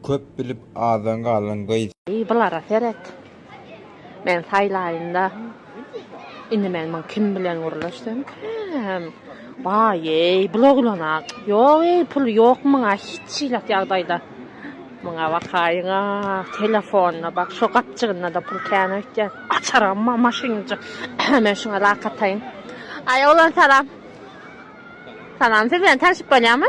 Köp bilip azdan galan gyz. Eý bulara seret. Men saýlaýynda indi men muny kim bilen gürleşsemkäm. Waýeý bul oglana ýok eý puly ýok muňa hiç ilat ýagdaýda. Muňa bakaýyňa telefonyna bak şo gapjygyndada pul kän öýtýän. Açaram bar maşynynja men şuňa lak ataýyn. Aý oglan salam. Salam siz bilen tanşyp bolýamy?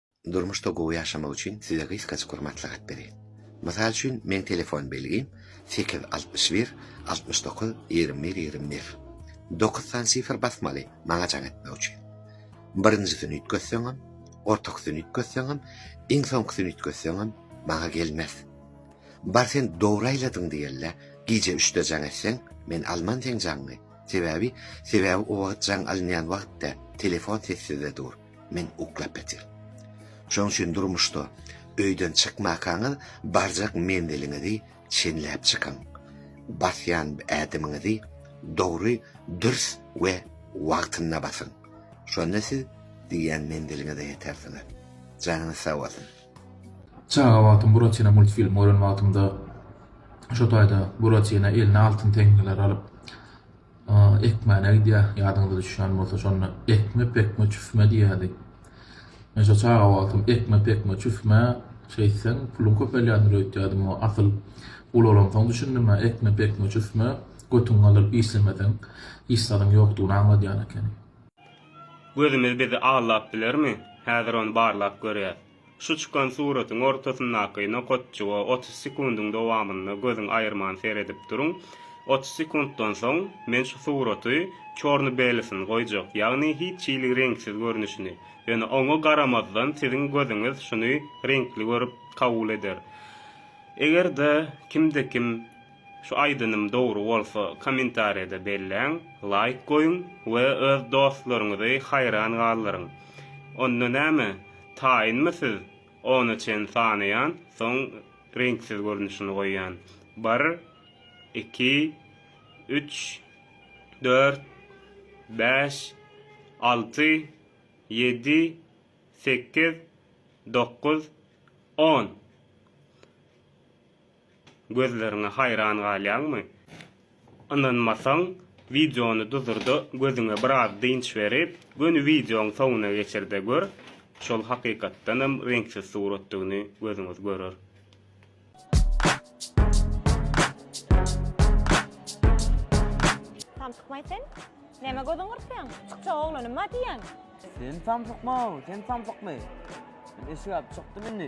Durmuşda gowy ýaşamak üçin size gysgajyk bir maslahat bereýin. Mysal üçin meň telefon belgim sekiz altmyş bir altmyş dokuz ýigrimi bir ýigrimi bir. Dokuz sany sifr basmaly maňa jaň etmek üçin. Birinjisini üýtgetseňem, ortakysyny üýtgetseňem, iň soňkusyny üýtgetseňem maňa gelmez. Bar sen dogry aýladyň diýelle, gije üçde jaň etseň, men alman seň jaňňy. Sebäbi, sebäbi o wagt jaň alynýan wagtda telefon sessizde dur. Men uklap ýatyr. Şoň üçin durmuşda öýden çykmakaňyz barjak menziliňizi çenläp çykyň. Basýan ädimiňizi dogry, dürs we wagtynda basyň. Şonda siz diýýän menziliňize ýetersiňiz. Janyňyz sag bolsun. Çaga wagtym Buratino multfilmi gören wagtymda şo taýda Buratino eline altyn teňňeler alyp Ekmäne gidýär. Ýadyňyza düşýän bolsa, şonda Ekme, pekme, çüfme diýýärdi. Men şo çaga wagtym Ekme, pekme, çüfme, şeýtseň, puluň köpelýändir öýtýärdim. Asyl, ulalansoň düşündim-ä, Ekme, pekme, çüfme, götüňi galdyryp işlemeseň, hiç zadyň ýokdugyny aňladýan ekeni. Gözümiz bizi aldap bilermi? Häzir ony barlap görýäs. Şu çykan suratyň ortasyndaky nokatjyga otuz sekundyň dowamynda gözüň aýyrman seredip duruň. Otuz sekuntdan soň men şu suraty çorny-belysyny goýjak, ýagny hiç hili reňksiz görnüşini. Ýöne oňa garamazdan siziň gözüňiz şuny reňkli görüp kabul eder. Eger-de kimde-kim Şu aýdynym dogry bolsa kommentariýada belläň, laýk goýuň we öz dostlaryňyzy haýran galdyryň. Onda näme, taýynmy siz, ona çen sanaýan, soň reňksiz görnüşini goýýan. Bir, iki, üç, dört, bäş, alty, ýedi, sekiz, dokuz, on. gözleriňe haýran galýaňmy? Ynanmasaň, wideony duzurda gözüňe biraz dynç berip, göni wideoň soňuna geçirde gör, şol hakykatdanam reňksiz suratdygyny gözüňiz görer. Samsykmaý sen? Nämä gözüňi gyrpýaň? Çykjak oglanymma diýýäň? Sen samsykma, sen samsykmy? Men eşik aýyp çykdym indi.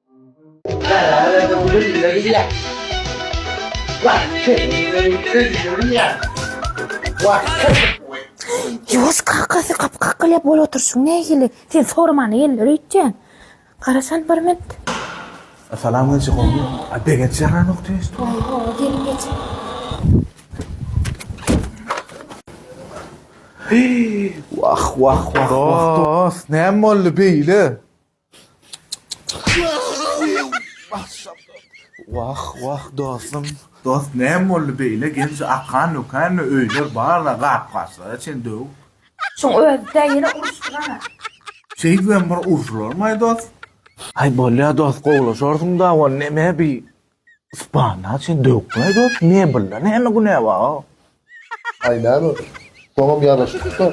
Ýuwaş kakasy gap-gakgylap ol oturşyň nähili? Sen soraman ýeller öýtýän. Garasan bir mint. Salamlajyk ogly. A begenç ýaranok tüýs. Oho, gelin geç. Wah, wah, wah, wah. Dost, näme boldy beýle? Wah wah dostum. Dost näme boldy beýle genji akan ökänmi öýler barla gap gaçlara çen döw. Şuň özüdä ýene uruşdyrana. Şeýt bilen bir urşularmaý dost. Aý bolýa dost gowlaşarsyňda ol neme bi Spana sen döwükleý dos mebelde näme günä ba. Aý näme soňam ýaraşypda.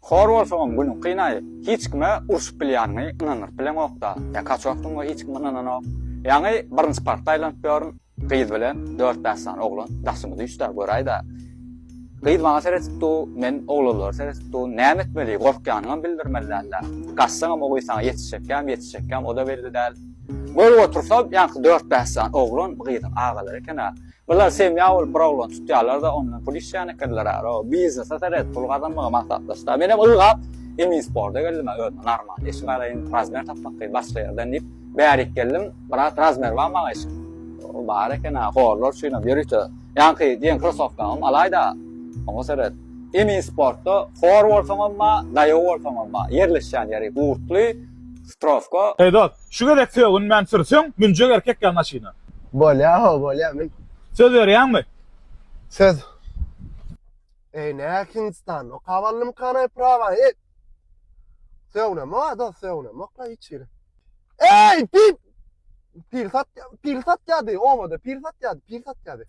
Hor bolsaňam günüň kynaý hiç kime urşup bilýäniňi ynandyryp bileňokda. Ýa kaç wagtdan bu hiç kim ynananok. Ýaňy birinji parta aýlanyp ýörün. Gyz bilen dört bäş sany oglan daşymy düýşdä göräýdä. Gyz maňa seretip dur, men oglanlara seretip dur. Näme etmeli? Gorkýanyňam bildirmeli däl-ä. Gaçsaňam o gyz saňa ýetişjekkäm, ýetişjekkäm, o-da belli däl. Görüp otursa, ýaňky dört bäş sany oglan bu gyzyň agalary eken-ä. Bular semýa bolup bir oglany tutýarlar-da, ondan pul işleýän ekenler-ä. Ro, biznese seret, pul gazanmagy maksatlaşdylar. Menem ylgap, Eminsporda geldim-ä, özüme normal iş garaýyn, razmer tapmak kyn, başga ýerden diýip, Bärik geldim, brat razmer bar maňa eşik. O bar eken ha, horlar üçin hem ýörite. Ýaňky diýen krosowkaňam alaýda. Oňa seret. Emi sportda hor bolsaňam bar, daýaw bolsaňam bar. Ýerleşýän ýeri gurtly, strowka. Heý dost, şu gezek sögünmän sürsüň, münjek erkek ýaly maşyna. Bolýar, ho, bolýar, mün. Söz berýäňmi? Söz. Eý, nähili Hindistan, okap aldymyka anaý prawaýy? Söwnem, o da söwnem, okla hiç ýeri. Ey, pir! Pir sat, pir sat ýady, obada pir sat ýady, pir sat ýady.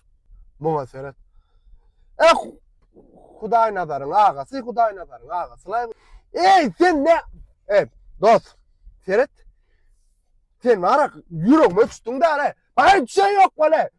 Muňa seret. Eh, Hudaý nazaryň agasy, Hudaý nazaryň agasy. Laý, ey, sen ne? Ey, dost, seret. Sen ara ýüregime düşdüň däle. Baý düşen ýok bale.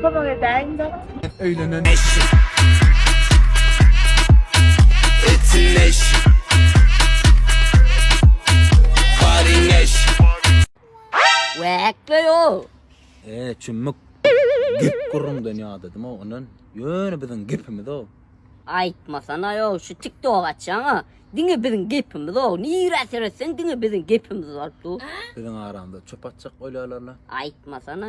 Kömek edäýiň dok. Hep öýlenen eşşik. Etsin eşşik. Karyň eşşik. Wäk beýoo. Eee çümmük. Gep gürrüňden ýadadym o ondan. Ýöne biziň gepimiz o. Aýtmasanaýo şu tiktok açýaňa diňe biziň gepimiz o nirä seretseň diňe biziň gepimiz bolup dur. Biziň aramyzda çöp atjak bolýalarla. Aýtmasana.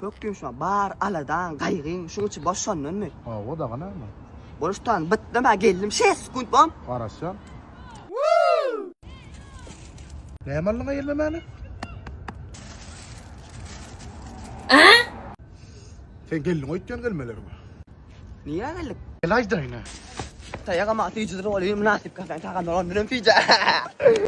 Pökgi ýumşama bar aladaň, gaýgyň şuň içi boş şondanmy? Hawa daga näme? Bolup tutan bytdam ha geldim şeýt sekunt bom. Garaşýan. Näme aldyň aýelme mäne? Sen geldiň öýtýän gelmelerimi. Niýe geldik? Gel aýdaýyna. Taýagama syýjydyr bolýar mynasyp kasan tagamlar ondan hem syýja.